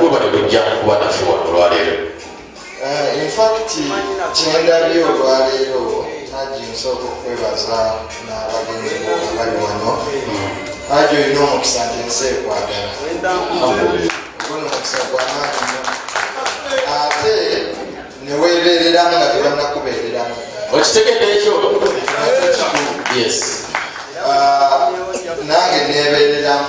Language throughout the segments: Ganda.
Mwebale kujja kuba naffe wano olwaleero. Eh, in fact kyendabye olwaleero haji nsooka okwebaza n'abagenzi abali wano haji olina omukisa nti ensi ekwagala ogona omukisa gwamaanyi ate neweebeereramu nga tebanakubeereramu okitegedde ekyo yes ah, nange neebeereramu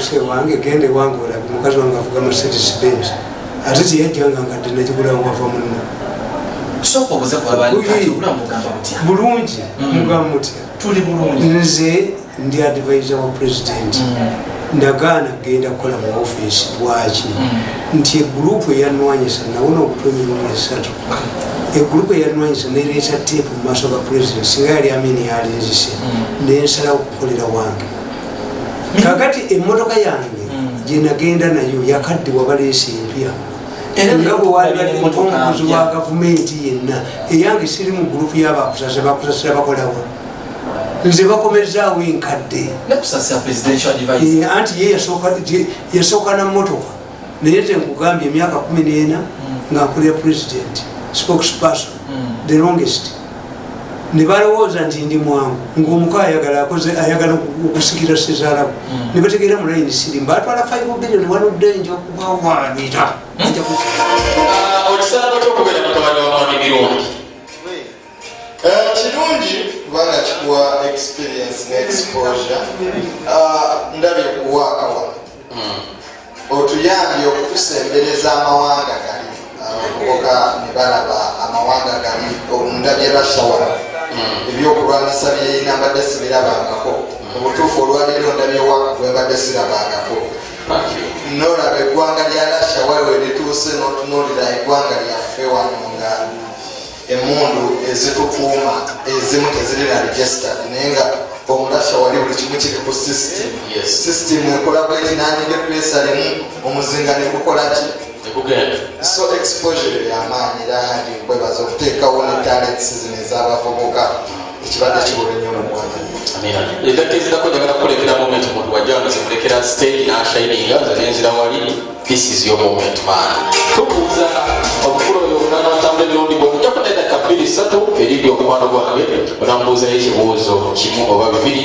ese wange genda ewange olabe mukazi wange avuga mercedes benz ate teyajjanga nga dde nakigulawo wava munna bulungi mm. mugamba mutya nze ndi advisa wa president mm. nagaana kugenda kukola mu office lwaki mm. nti egurupu eyanwanyisa nawona okutwa emirundi esatu egulupu eyanwanyisa nereeta teepu mu maaso ga president singa yali amini yalinzise mm. nensala okukolera wange mm. kakati emmotoka yange mm. gyenagenda nayo yakadde wabaleesa empya nga bwewalibaomukozi wa gavumenti yenna eyange siri mu gulupu yabakusasa bakusasira bakolawa nze bakomezaawo enkadde eh, anti ye yasooka na motoka naye tenkugambye emyaka kumi nena nga nkulira president spokesperson mm. the longest nebalowooza nti ndi mwangu ngaomuko ayagala akoze ayagala okusikira sezalabu mm. nebategeera mu layini sirimu batwala 5 billion waludde nja okubawaanira mm. ah, okisalaba kyokubera mutabani wa mwami mirungi eh, kirungi kubanga kikuwa experience ne exposure ah, ndabye kuwaakawa otuyambye okutusembereza amawanga gali abavubuka ne balaba amawanga gali obunda bye basobola ebyokulwanyisa byeyina mbadde sibirabangako obutuufu olwaleero ndabyewa bwembadde sirabangako nolaba eggwanga lya lasha waliwo erituuse notunulira eggwanga lyaffe wano nga emundu ezitukuuma ezimu teziri na registered naye nga omulasha wali buli kimu kiri ku system system ekola bweti nanyige pesa limu omuzinga nekukolaki so exposure yamaanyi era handi nkwebaza okuteekawo ne talents zino ezabavubuka ekibadde kibuga nnyo mu ggwanga endakka ezirako njagala kukulekera moment muntu wajja nga zikulekera stage nashininga nze nenzira wali this is your moment man tukuuza obukulu oyo omwana atambula emirundi gwe okujja kufuna endakka bbiri ssatu erindi omukwano gwange onamubuuzayo ekibuuzo kimu oba bibiri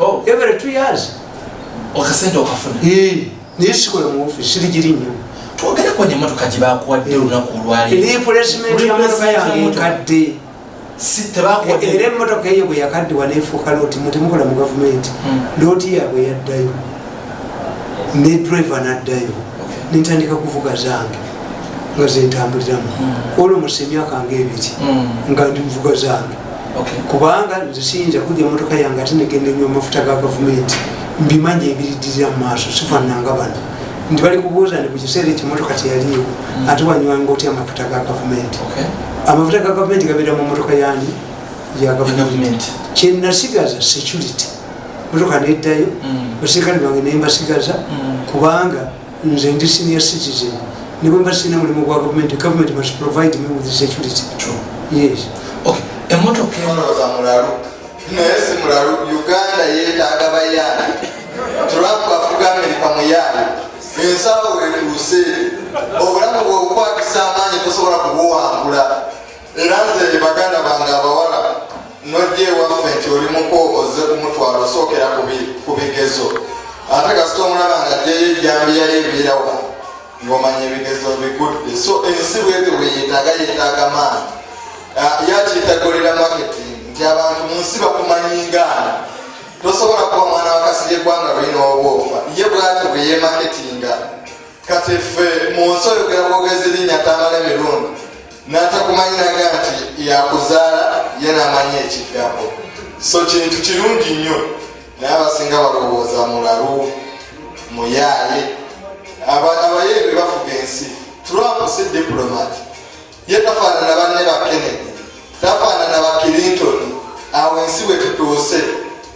oh. every two years okasente okafuna naye sikola mu office siri giri nnyo twogere ku emotoka gye bakuwadde olunaku olwalioresimentinkadde era emotoka eyo bwe yakaddiwa nefuuka looti mutemukola mu gavumenti hmm. looti yaabwe yaddayo ne driver naddayo nentandika kuvuga zange nga zentambuliramu hmm. olwo musa emyaka nga ebiri hmm. nga ndi muvuga zange kubanga nze siyinza kuja emotoka yange ate negenda enywa amafuta ga gavumenti mbimanyi ebiridirira mu maaso sifananga bano nti bali kubuuza ni kukiseera ekyo emotoka teyaliyo mm. ate wanywanga otya amafuta ga gavumenti amafuta ga gavumenti gabeera mu motoka yani ya gavumenti kyenasigaza security motoka neddayo mm. basirikale bange nembasigaza mm. kubanga nze ndi senior citizen nebwemba sirina mulimu gwa gavumenti gavumenti must provide me with security yes okay emotoka enoza mulalu naye si mulalu uganda yetaaga bayaana trump afuga amerika muyaana ensawo wetuuse obulamu bwebukwatisa amaanyi tosobola kubuwangula Era nze baganda bange abawala nojja ewaffe nti oli muko ozze kumutwala osookera ku bigezo ate kasita omulaba nga jjayo ejjambiyayo ebiira wa ng'omanya ebigezo bigudde so ensi bwebyo bweyetaaga yetaaga maanyi ah, yakitagolera maketi nti abantu mu nsi bakumanyiingaana tosobola kuba mwana wakasiri eggwanga lulina obwofa ye bwati bweyemaketinga kati ffe mu nsi oyogera bwogezi linnya tamala emirundi natakumanyi naga nti yakuzaala ye namanyi ekiddako so kintu kirungi nnyo naye abasinga balowooza mulalu muyaaye abayeebe bafuga ensi trump si diplomat ye tafaanana banne ba kennedy tafaanana ba clinton awo ensi bwe tutuuse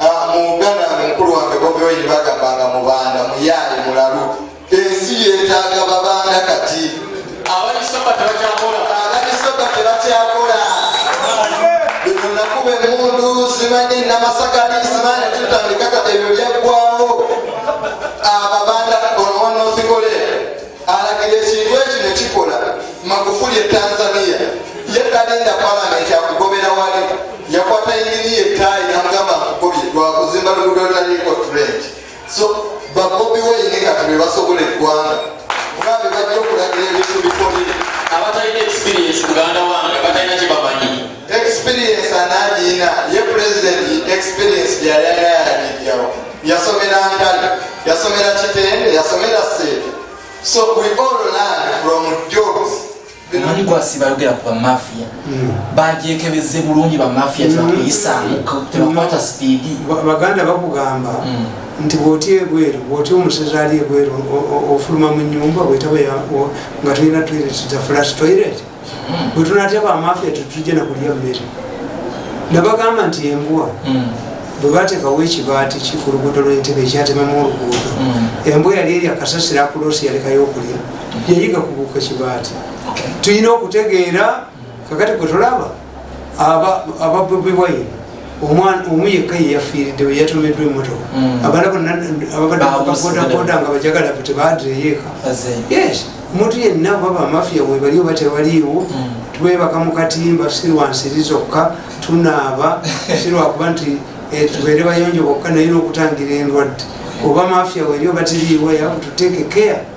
ah, mu uganda mukulu wange bobiwayini bagambanga mubanda muyaaye mulalu Ensi yetaaga babanda kati. Abalisaba tebakyakola. Abalisaba tebakyakola. Bino nakuba emmundu simanyi namasakali simanyi tutandika kati ebyo byaggwawo. Ababanda onoonoosikole alagira ekintu ekyo ne kikola Magufuli e Tanzania ye talinda palamenti akugobera wali yakwata enginiya ettaayi namugamba akugobye lwakuzimba lugudo lutaliiko tulenti so babobi wayine kati bebasobola eggwanga kuba bebajja okulagira ebintu bikole abatalina experience muganda wange batalina kyebamanyi experience anagiyina ye pulezidenti experience gyayala yagijjawo yasomera ntale yasomera kitende yasomera seeta so we all learn from jobs omanyi gwasi bayogera ku bamafiya hmm. bagyekebeze bulungi bamafiya hmm. tebakuyisaamu tebakwata hmm. sipiidi baganda bakugamba nti bwoti ebweru bwoti omusezi ali ebweru ofuluma mu nyumba bwetaba nga tulina toilet za flash toilet bwetunatya bamafiya tetujja nakulya mmere nabagamba nti embwa bwebatekawo ekibaati kikulugudo lwentebe ekyatemamu oluguudo embwa yali erya kasasira kulosi yalekayo okulya yayiga kubuuka kibaati tulina okutegeera kakati gwe tolaba ababobiwayi omu yekka yeyafiiriddewo yatomeddwa emotoka mm. abala bonna ababaddeabodaboda nga bajagala fe tebadireyoeka yes omuntu yenna oba bamafiya webali oba tebaliiwo mm. twebaka mu katimba sirwansiri zokka tunaaba sirwakuba nti eh, tubeere bayonjo bokka naye nokutangira endwadde oba mafiya weri oba tiriiwo yakututeeke care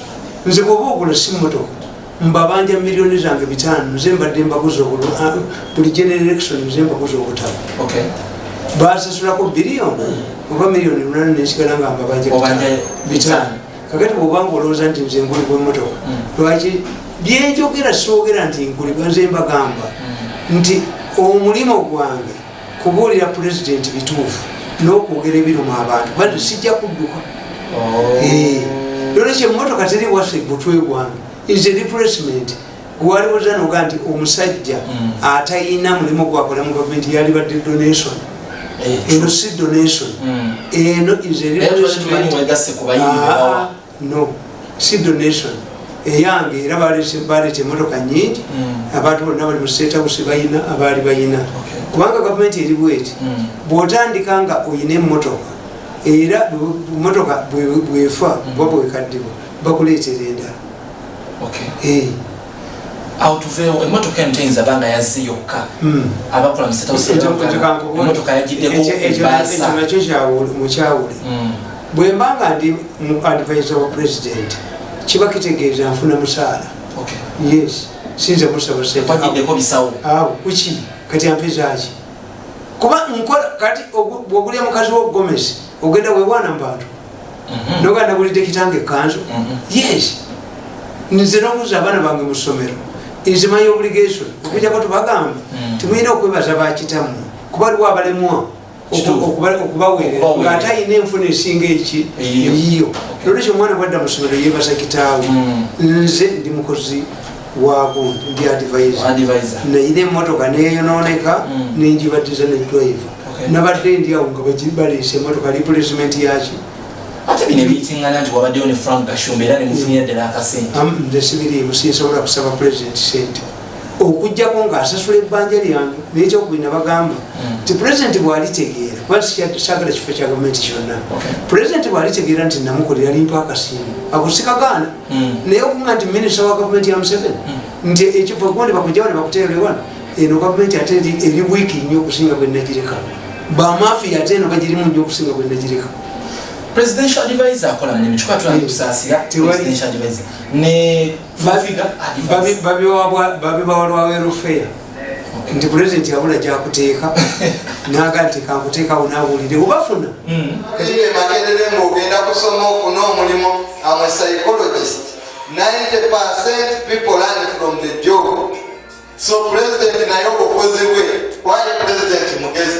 nze bwoba ogula si motoka mbabanja miliyoni zange bitaano nze mbadde mbaguza ah, buli generation nze mbaguza obutabo basasulako biliyoni oba miliyoni munana nensigala nga mbabanja bitaano kakati bwobanga olowooza nti nze nguli gwemotoka hmm. lwaki byenjogera soogera nti nkuliba nze mbagamba hmm. nti omulimu gwange kubuulira pulezidenti bituufu n'okwogera ebiruma abantu bali sijja kudduka oh. eh, nolwekyo emmotoka teri waffe butwegwanga is a replacement gwaliwo zanoga nti omusajja hmm. atayina mulimu gwakola mu gavumenti yalibadde donation eh, eno si donation hmm. eno is a replacement no si donation eyange era baleeta emotoka nyingi hmm. abantu bonna bali mu state house balina abaali balina kubanga gavumenti eri bweti hmm. bwotandika nga olina emotoka era emotoka bwefa hmm. bwaba wekaddibwa bakuleetera endala eh. awo tuveewo emotoka eno teyinza banga yazze yokka hmm. abakola musetaemotoka yagiddekoekyo kyamukyawule hmm. bwemba nga ndi mu advisa wa president kiba kitegeeza nfuna musaala yes sinze musaba sentedeko bisawo awo kuki kati ampezaki kuba nkola kati bwogulya mukazi wa gomesi ogenda wewana mu bantu mhm. noga nagulidde kitanga ekanzu mhm. yes nze nokuza abaana bange musomero nze manyi obligation okujako tubagamba mhm. timulina okwebaza bakitamu kuba liwo abalemwa okubawerera nga ate ayina enfuna esinga eki eyiyo nolwekyo omwana bwadda musomero yebaza kitaawe nze ndi mukozi wagundi ndi advisor nayina emotoka neyononeka mm. nenjibatiza ne driver nabadde ndi awo nga baleese emotoka replacement yaki ndesibiriimu sinsobola kusaba president sente okujjako nga asasula ebbanja lyange nekyokubina bagamba mm. ti president bwalitegeera kuba sagala kifo kya gavumenti kyonna president bwalitegeera nti namukolera lintu akasiimu agusikagaana hmm. naye okuga nti minisita wa gavumenti ya museveni hmm. nti ekiva kuba ne bakujawo ne bakuteerewa eno gavumenti ate eri wiiki nnyo okusinga bwe nagireka bamafiya ate eno bagirimu nnyo okusinga bwe nagireka presidential advisor akola mulimu kikuba tulanga kusaasira presidential advisor ne babiwabwa babibawalwawerufeya nti pulezidenti yabula gyakuteeka naga nti kankuteekawo nawulire obafuna hmm. kati bemakerere nga ogenda kusoma ofuna omulimu ama psychologist 90 percent people learn from the job so pulezidenti naye obukozi bwe waye pulezidenti mugezi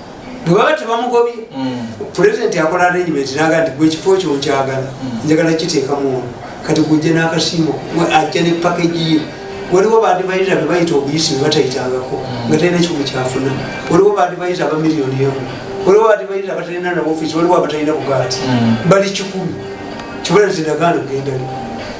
bwebaba tebamugobye mm. pulezidenti akola arrangement naga nti gwe ekifo kyo nkyagala mm. njagala kiteekamu ono kati gujja n'akasiimo ajja ne pakeji ye waliwo baadivayiza be bayita obuyisi bebatayitangako mm. nga talina kimu kyafuna waliwo baadivayiza aba miliyoni emu waliwo baadivayiza abatalina nabofiisi waliwo abatalina bugaati bali kikulu kibala ziragaano gendali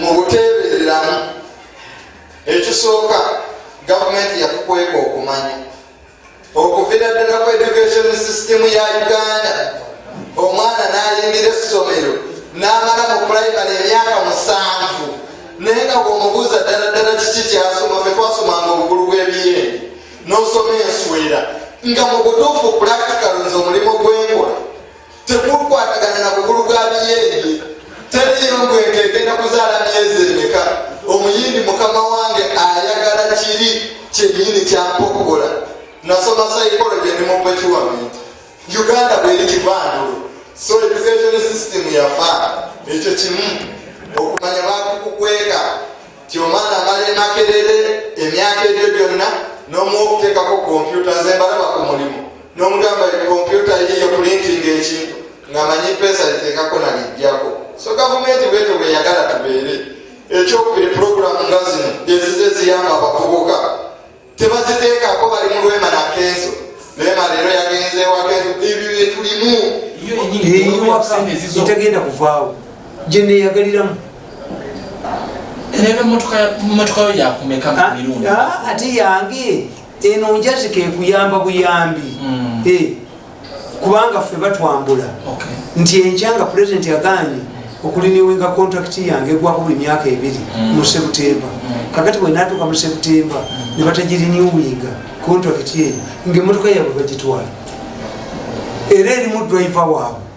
mu buteebereramu ekisooka gavumenti yatukweka okumanya okuvira ddala ku education system ya uganda omwana nayingira essomero n'amala mu pulayimale emyaka musanvu naye nga bwomubuuza ddala ddala kiki kyasoma fe twasomanga obugulu bw'ebiyendi n'osoma enswera nga mu butuufu pulaktikalo nze omulimu gwenkola tekukwatagana na bukulu bwa biyeenye teriyo ngwenge egenda kuzaala myezi emeka omuyindi mukama wange ayagala kiri kyenyini kyampa okukola nasoma psychology ne mupecuament uganda bweri kivandulo so education system yafa ekyo kimu okumanya bakukukweka ti omwana amala emakerere emyaka ebyo byonna nomuokutekako kompyuta zembalaba ku mulimu nomugamba kompyuta yiyo kulintinga ekintu ngamanyi pesa litekako nalijjako so gavumenti bwetyo bweyagala tubeere ekyokubiri puroguramu nga zino ezize ziyamba abavubuka tebaziteekako bali mu lwema nakenzo naye maleero yagenzeewako ebyo byetulimu etagenda kuvaawo gyeneyagaliramu nebemotoka yo yakumeka ah, mirundi ah, ati yange eno njazi kekuyamba buyambi mm. eh, kubanga ffe batwambula nti enkya nga pulezidenti yaganye okuliniwinga kontakiti yange egwako buli myaka ebiri mm. mu sebutemba mm. kakati bwenatuuka mu sebutemba ne batagiriniwinga kontakiti eyo ngaemotoka yabwe bagitwala era erimu driver waabwe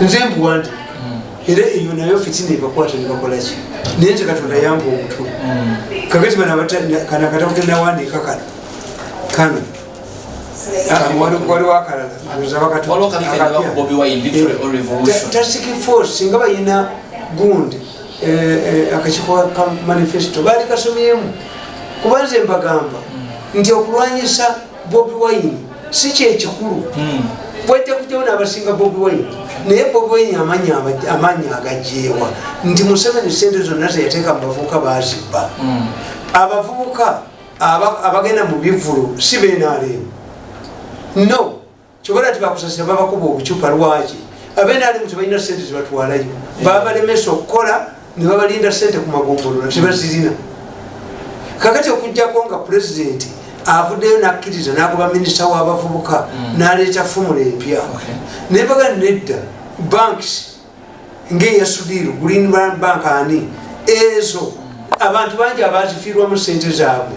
nze mbuwandi hmm. era eyo nayo fitina ebakwata nebakolaki naye nze katonda yamba omutwe hmm. kakati banakatakutenawandika kano kano waliwo akalala singa balina gundi eh, eh, akakiko ka manifesto baali kasomyemu kuba nze mbagamba hmm. nti okulwanyisa bobi wine si kyekikulu hmm. bwetekutewo nabasinga bobi wine naye bobi wine amaanyi agajeewa nti museveni sente zonna zeyateeka mubavubuka bazibba hmm. abavubuka abagenda mu bivulu si benaleemu no kyobola ti bakusasira babakuba obucupa lwaki abenalimu tebalina sente zebatwalayo babalemesa okukola nebabalinda sente ku magombolola tebazirina kakati okujjako nga pulezidenti avuddeyo nakkiriza nagoba minisita wabavubuka mm. naleeta fumula empya naye baga nedda banks ngeyasudiru green bank ani ezo abantu bangi abazifiirwamu sente zaabwe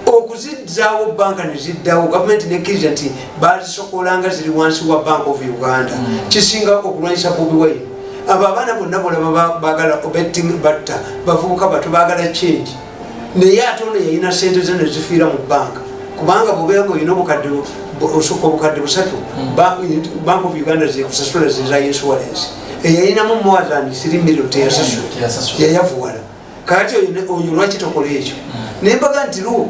okuzizaawo banka neziddawo gavumenti nekkiriza nti bazisokolanga ziri wansi wa bank of uganda mm. kisinga okulwanyisa bobi wine abo abaana bonna bolaba bagala obetting batta bavubuka batu bagala change naye ate ono yalina sente ze nezifiira mu banka kubanga bubeeko olina obukadde osukka obukadde busatu hmm. bank of uganda zekusasula zeza insurance eyalinamu more than 3 million teyasasula yayavuwala kati oyo lwaki tokola ekyo hmm. nembaga nti luwo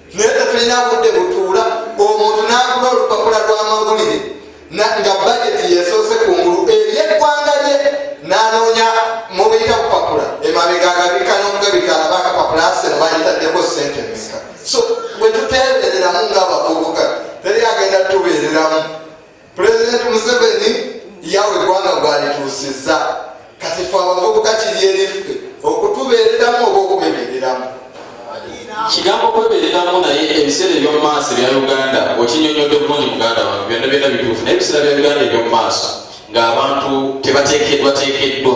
naye tetulina budde butuula omuntu n'akuba olupapula lw'amawulire nga bajeti yesoose ku ngulu ery'eggwanga lye n'anoonya mubiyita kupapula emabega agabika n'okugabika alaba akapapula aseno bayitaddeko ssente emeka so bwe tuteebereramu ng'abavubuka teri agenda tubeereramu Pulezidenti Museveni yawa eggwanga gwalituusizza kati fe abavubuka kiri eriffe okutubeereramu oba okwebeereramu kigambo kwebeereramu naye ebiseera eby'omu maaso ebya uganda okinyonyodde bulungi muganda wange byonna byonna bituufu naye ebiseera bya uganda eby'omu maaso ng'abantu tebateekeddwateekeddwa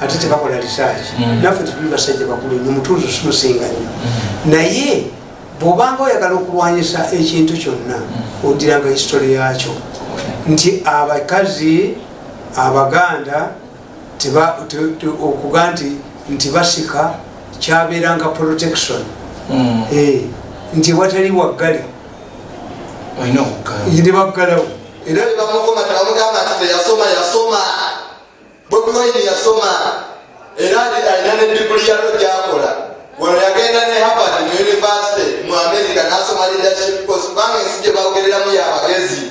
ate tebakola research mm. naffe tetuli basajja bakulu nyo mutuuzo simusinga nyo mm. naye bwobanga oyagala okulwanyisa ekintu kyonna mm. odiranga history yakyo nti abakazi abaganda okuga nti nti basika kyabeeranga protection eh, nti watali waggale nebaggalawo era nebamukoma tebamugamba nti teyasoma yasoma Bobi Wine yasoma era alina ne diguli yalo gyakola wano yagenda ne Harvard mu yunivasite mu Amerika n'asoma leadership course kubanga ensi gye bawogereramu ya bagezi.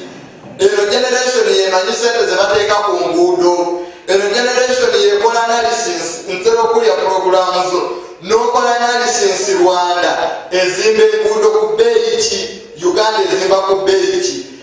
Eno generation yemanyi sente ze bateeka ku nguudo. Eno generation yekola analysis ntera okulya pulogulaamu zo n'okola analysis Rwanda ezimba enguudo ku bbeeyi ki Uganda ezimba ku bbeeyi ki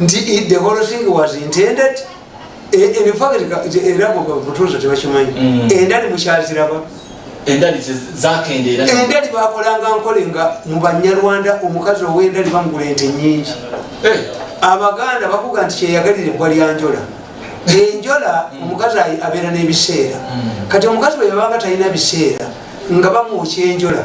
nti the whole thing was intended era mutuuza tebakimanyi mm. endali mukyaziraba endali zakendeera endali bakolanga nkole nga mu banyarwanda omukazi owendali bamugula ente nyingi eh. abaganda bakuga nti kyeyagalira ebbwa lyanjola enjola mm. omukazi abeera n'ebiseera mm. kati omukazi bwe yabanga talina biseera nga bamwokya enjola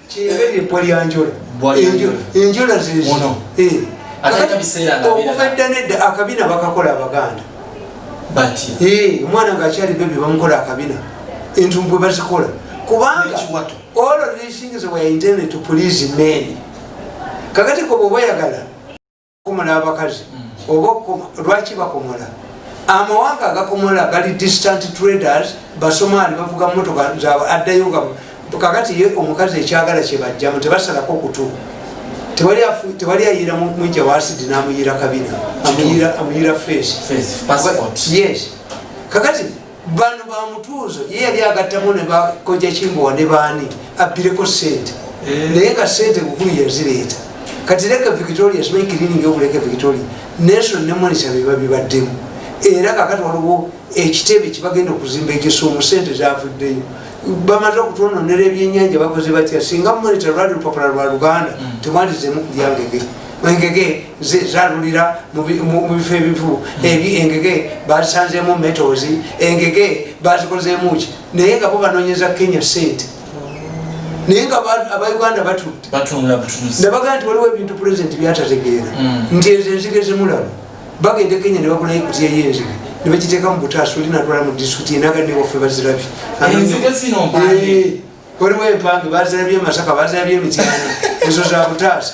enjola zeokuva edda nedda akabina bakakola abaganda omwana ngaakyali bebe bamukola akabina entumbwe bazikola kubanga all of these things were intended to please men kakati koba obayagala komola abakazi oba lwaki bakomola amawanga agakomola gali distant traders basomaali bavuga mumotoka zaabwe addayo nga kakati ye omukazi ekyagala kyebajjamu tebasalako kutu tewali ayira mujja wasidi namuyira kabina amuyira face yes kakati bano bamutuuzo ye yali agattamu ne bakoja kimbowa ne baani abbireko sente eh. naye nga sente bukulu yazireeta kati leka victoria simanyi kiriningi okuleka victoria nelson ne monisa beba bibaddemu era kakati waliwo ekitebe kyebagenda okuzimba ekisuumu sente zavuddeyo bamaze okutwononera ebyenyanja bakoze batya singa monita lwali lupapula lwa luganda mm. temwalizemu kulyangege engege zalulira mu bifo ebivu ebi engege bazisanzemu metals engege bazikozemuki naye nga bo banonyeza kenya sente naye nga abauganda batunebagaa nti waliwo ebintu pulezidenti byatategeera mm. nti ezo enzige zimulaba bagende kenya nebagulayo ekutiyeyo enzige nebagiteeka mu butaasi oli natwala mu disitulikti enaganewaffe bazirabye eh, waliwo empange bazirabye masaka bazirabye emityana ezo za butaasi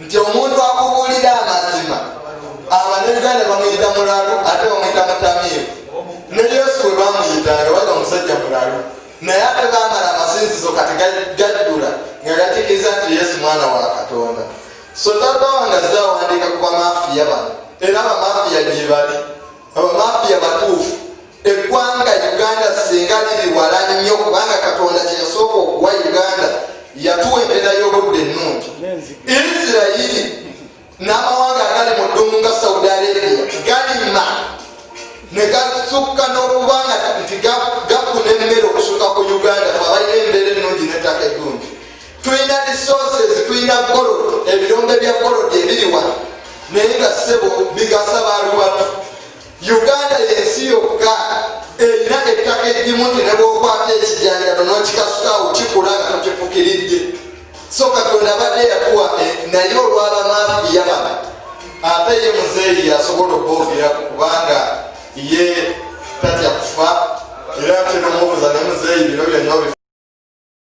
nti omuntu akubuulira amazima abanayuganda bamuyita mulalu ate bamuyita mutamiivu ne yesu we bamuyita yawaga omusajja mulalu naye ate bamala amasinzizo kati gaddula nga gatikiriza nti yesu mwana wa katonda so tata wange azawandiika ku bamafiya bano era bamafiya gyebali abamafiya batuufu eggwanga uganda singa liri wala nnyo kubanga katonda kyeyasooka okuwa uganda yatuwa embeera y'obudde ennungi isirayiri n'amawanga agali mu ddumu nga saudi arabia galima ne gasukka n'okuba nga nti gafuna emmere okusukka ku uganda fe abalina embeera ennungi n'ettaka eddungi tulina resources tulina golod ebirombe bya golod ebiriwa naye nga sebo bigasa baluwatu uganda yensi yokka erina ettaka egimu nti nebwokwata ekijanjalo nokikasukawo kikula nga tokifukiridde so katonda abadde yatuwa eh, naye olwabamafi yabana ate ye muzeeyi yasobola okwogerako kubanga ye tatya kufa era ate nomubuza ne muzeeyi bino byonna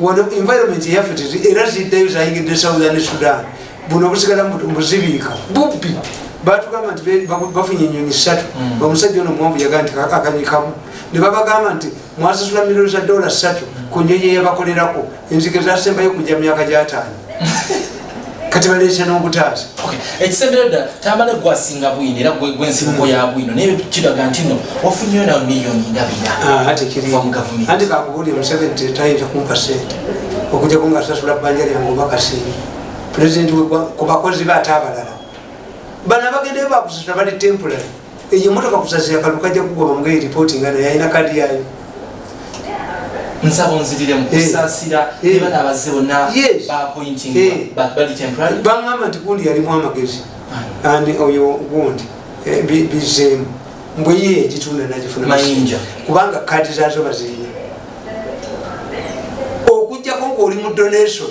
wano environment yaffe era ziddayo zayingidde southern sudan buno obusigala mbuzibiika bubbi batugamba nti bafunye enyonyi satu hmm. omusajja ono muwanvu yagaa nti akanyikamu nebabagamba nti mwasasula milioni za dola satu ku nyonyi eyabakolerako enzige zasembayo kuja myaka gyataano kati baleeta n'obutaata ekisembero dda tamale gwasinga bwino era gwensibuko hmm. ya bwino naye kiraga nti no wafunyeyo nawe miliyoni ndabirava ah, mu gavumenti anti kakubuli omuseveni tetayinza kumpa sente okujako nga sasula bbanja lyange oba kasiimi pulezidenti ku bakozi be ate abalala bana bagendeyo bakusasula bali temporary eyo emotoka kuzazi yakalu kajja kugoba mugeri ripoti nga naye alina kadi yayo nsaba onzirire mukusaasira eh. eh. ebana abazze bonna bapointing eh. bali temporary bangamba nti gundi yalimu amagezi ah. and oyo gundi bizeemu mbwe ye egitunda nagifuna mayinja kubanga kadi zazo bazirina okujjako ngaoli mu donation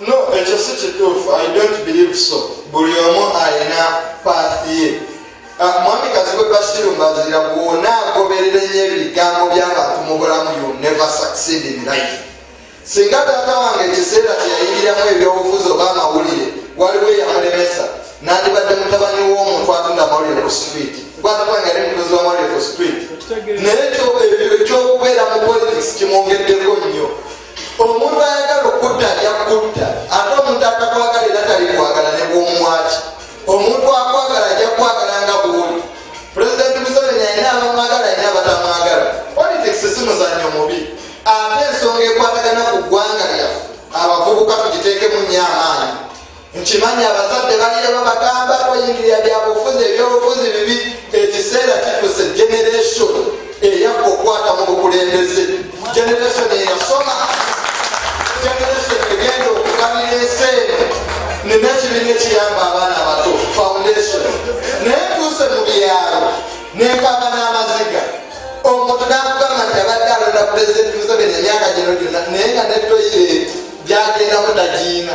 no ekyo si kituufu i don't believe so buli omu alina paathi ye ah, mwami kazibwe basiru mbazira bwona agoberera enyo ebigambo byabantu mu bulamu you never succeed in life singa taata wange ekiseera kyeyayingiramu ebyobufuzi oba amawulire waliwo eyamulemesa nandibadde mutabani w'omuntu atunda mawulire ku street gwatakwanga yali mutuzi wa mawulire ku street naye ekyokubeera mu politics kimwongeddeko nnyo omuntu ayagala okutta ajja kukutta ate omuntu atakwagala era tali kwagala ne bwomwaki omuntu akwagala ajja kukwagala nga bwoli pulezidenti museveni alina abamwagala alina abatamwagala politics si muzanyo mubi ate ensonga ekwatagana ku ggwanga lyaffe abavubuka tugiteekemu nnyo amaanyi nkimanyi abazadde balire babagamba toyingirira byabufuzi ebyobufuzi bibi ekiseera kituuse generation eyakka okukwata mu bukulembeze generation eyasoma generation egenda okukanira ensi eno nina ekibiina ekiyamba abaana abato foundation naye tuuse mu byalo nenkamba n'amaziga omuntu nakugamba nti abadde alonda pulezidenti museveni emyaka gino gyona naye nga netoyire gyagendamu tagiina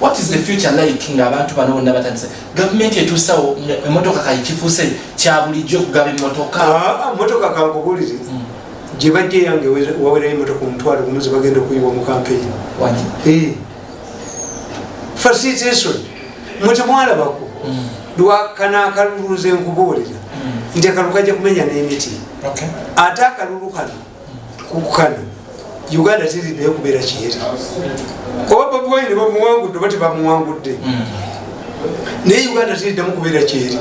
what is the future like nga abantu bano bonna batandise gavumenti etuusawo emotoka kayi kifuuse kyabulijjo okugaba emotoka ah, ah, motoka kankubulire hmm. gye bajja eyange wawerayo emotoka omutwalo gumu ze bagenda okuyiwa mu kampeyini eh. fasiteson muti mwalabako hmm. lwakana akaluluuza enkubuulira hmm. nti akalulu kajja kumenya n'emiti ate akalulu kano kukano uganda tirideyo kubeera kiyeri oba babuwaine bamuwangudde oba tebamuwangudde hmm. naye uganda tiriddemu kubeera kyeri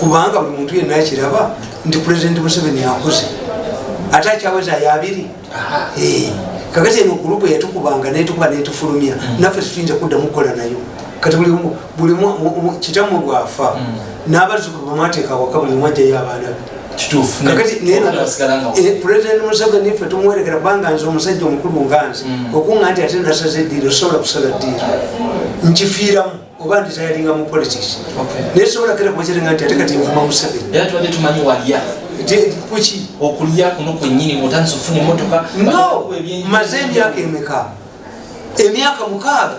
kubanga buli muntu yenna akiraba nti pulezidenti museveni akuze ate akyaweza yabiri eh. kakati eno gulupu yatukubanga netukuba netufulumya hmm. naffe tetuyinza kuddamu kukola nayo kati buli buli kitamu bwafa mm. n'abazukulu bamwateeka waka buli mwajjayo abaana be pulezidenti museveni ffe tumuwerekera kubanga nze omusajja omukulu nganze mm. okunga nti ate nasaza eddiiro sobola kusala ddiiro nkifiiramu oba ndi tayalinga mu politics naye sobola kera kubakirenga nti ate kati nvuma museveni kuki okulya kuno kwenyini otandisa okufuna emotoka no maze emyaka emeka emyaka mukaaga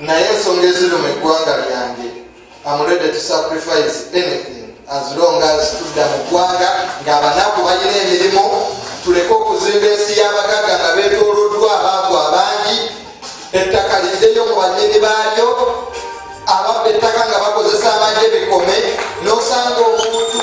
naye ensonga eziri mu eggwanga lyange amulede to sacrifice anything as long as tudda mu ggwanga ngaabanaku balina emirimu tuleke okuzimba ensi y'abagagga nga betoloddwa abaavu abangi ettaka liddeyo mu banyini baalyo ababba ettaka nga bakozesa amagye bikome nosanga omuntu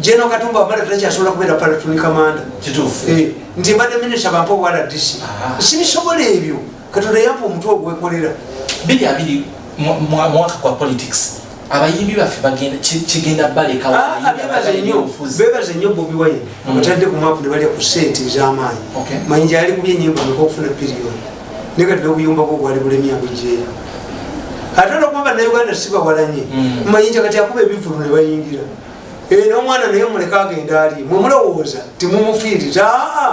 General Katumba wabala takyasobola kubeera platoon commander kituufu eh, nti mbadde minister bampa obwa RDC sibisobola ebyo katonda yampa omutwe ogwekolera biri abiri mwaka kwa politics abayimbi baffe bagenda kigenda balekabebaze ah, nnyo bobi wine abatadde mm. ku mapu ne balya ku sente ez'amaanyi manyi gyali kubye enyimba meka okufuna piriyoni naye kati nobuyumba bwo bwali bulemye abujeera ate olwokuba banauganda sibawalanye mm. mayinja kati akuba ebivulu ne bayingira eh, nomwana naye muleka agenda ali mwemulowooza timumufiiriza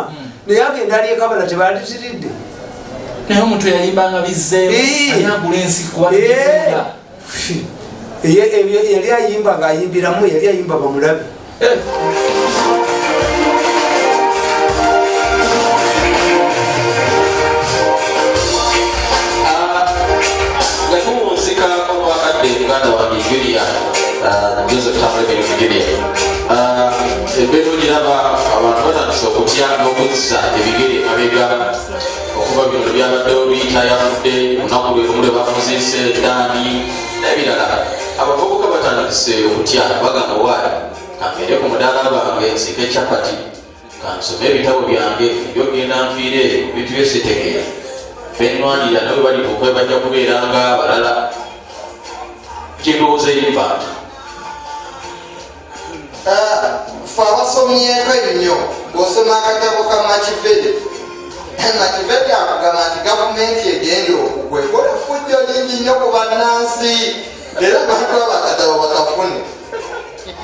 mm. naye agenda ali ekabala tebaliziridde naye omuntu yayimbanga bizzeemu eh. anagula ensi kuba eh. yali ayimba nga ayimbiramu yali ayimba bamulabe eh. ebero giraba abantu batandise okutya n'okuzza ebigere abegala okuva bino byabaddewo biita yafudde olunaku lwe lumu lwe bafuziise edaani nebirala abavubuka batandise okutya bagamba waali kambeere ku mudaala gwange nsike capati kansome ebitabo byange ebyogenda nfiire eyo bintu byesitegeera benwanira nawe bali okwebajja kubeera nga abalala kyendowooza eyimbantu Eh, fe abasomyeko ennyo ng'osoma akatabo ka makivedi eh, makivedi akugamba nti gavumenti egenda okugwa ekola efujjo lingi nnyo ku bannansi era bantu abakatabo bakafune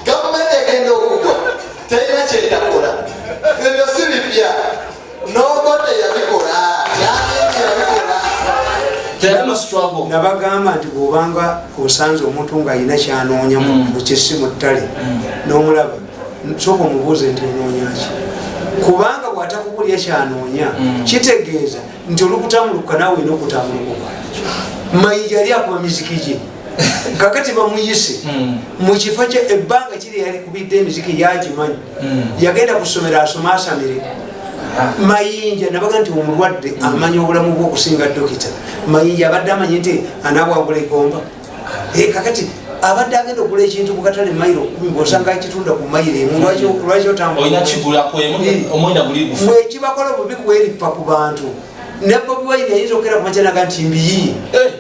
gavumenti egenda okugwa terina kyetakola ebyo si bipya nabagamba nti bwobanga osanze omuntu nga alina kyanoonya mukisi mm. mu ttale mm. nomulaba soka omubuuze nti onoonyaki kubanga bwatakukulya kyanoonya mm. kitegeeza nti olukutambuluka nawe olina okutambulukuka mayija ali akuba miziki gye kakati bamuyise mukifo kye ebbanga kiri yalikubidde emiziki yagimanyi hmm. yagenda ku ssomero asoma asamire ah. mayinja nabaga nti omulwadde hmm. amanya obulamu bwe okusinga dokita mayinja abadde amanyi nti anabwagula egomba ah. eh, kakati abadde agenda okugula ekintu kukatale mairo kumi bwosanga akitunda ku mairo emu lwaki otambulamwekibakola bubi kweripa ku bantu nebobiwaini ayinza okukera kumakyenaga nti mbiyi eh.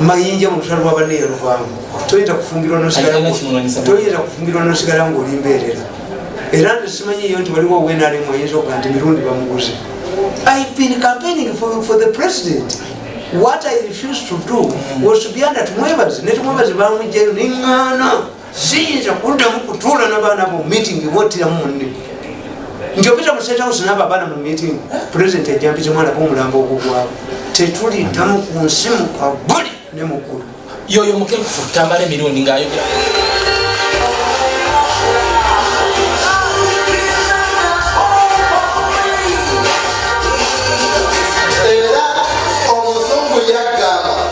mayinja mu lutalo lwa banne yaluvamu toyinza kufumbirwa nosigatoyinza kufumbirwa nosigala nga oli mbeerera era nze simanyi yo nti waliwo wenalemu ayinza okuga nti mirundi bamuguze i've been campaigning for, for the president what i refused to do was to be under tumwebazi ne tumwebazi bamugjayo nengana siyinza kuddamu kutuula nabaana bo meeting bwottiramu munne nti opita mu state house naba abaana mu meeting president ajampiza omwana bomulambo ogugwawo tetuliddamu ku nsi mukabuli ne muggulu yoyo mukefu tambala emirundi ngaayogera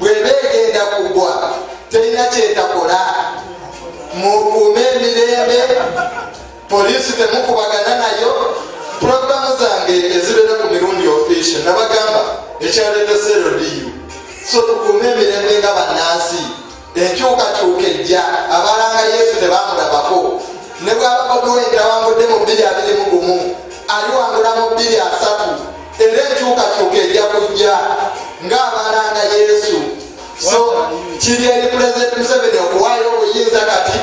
bweba egenda kugwa terina kyetakola mukuume emirembe poliisi temukubagana nayo pulogulamu zange ezibeera ku mirundi ofisio nabagamba ekyaleeta serodiyo so tukuume emirembe nga bannansi enkyukakyuka ejja abalanga yesu tebamulabako ne bwaba bobiwenti awangudde mu bbiri abiri mu gumu aliwangula mu bbiri asatu era enkyukakyuka ejja kujja ng'abalanga yesu so kiri eri pulezidenti museveni okuwaayo obuyinza kati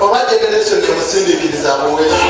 oba generation emusindikiriza buwesu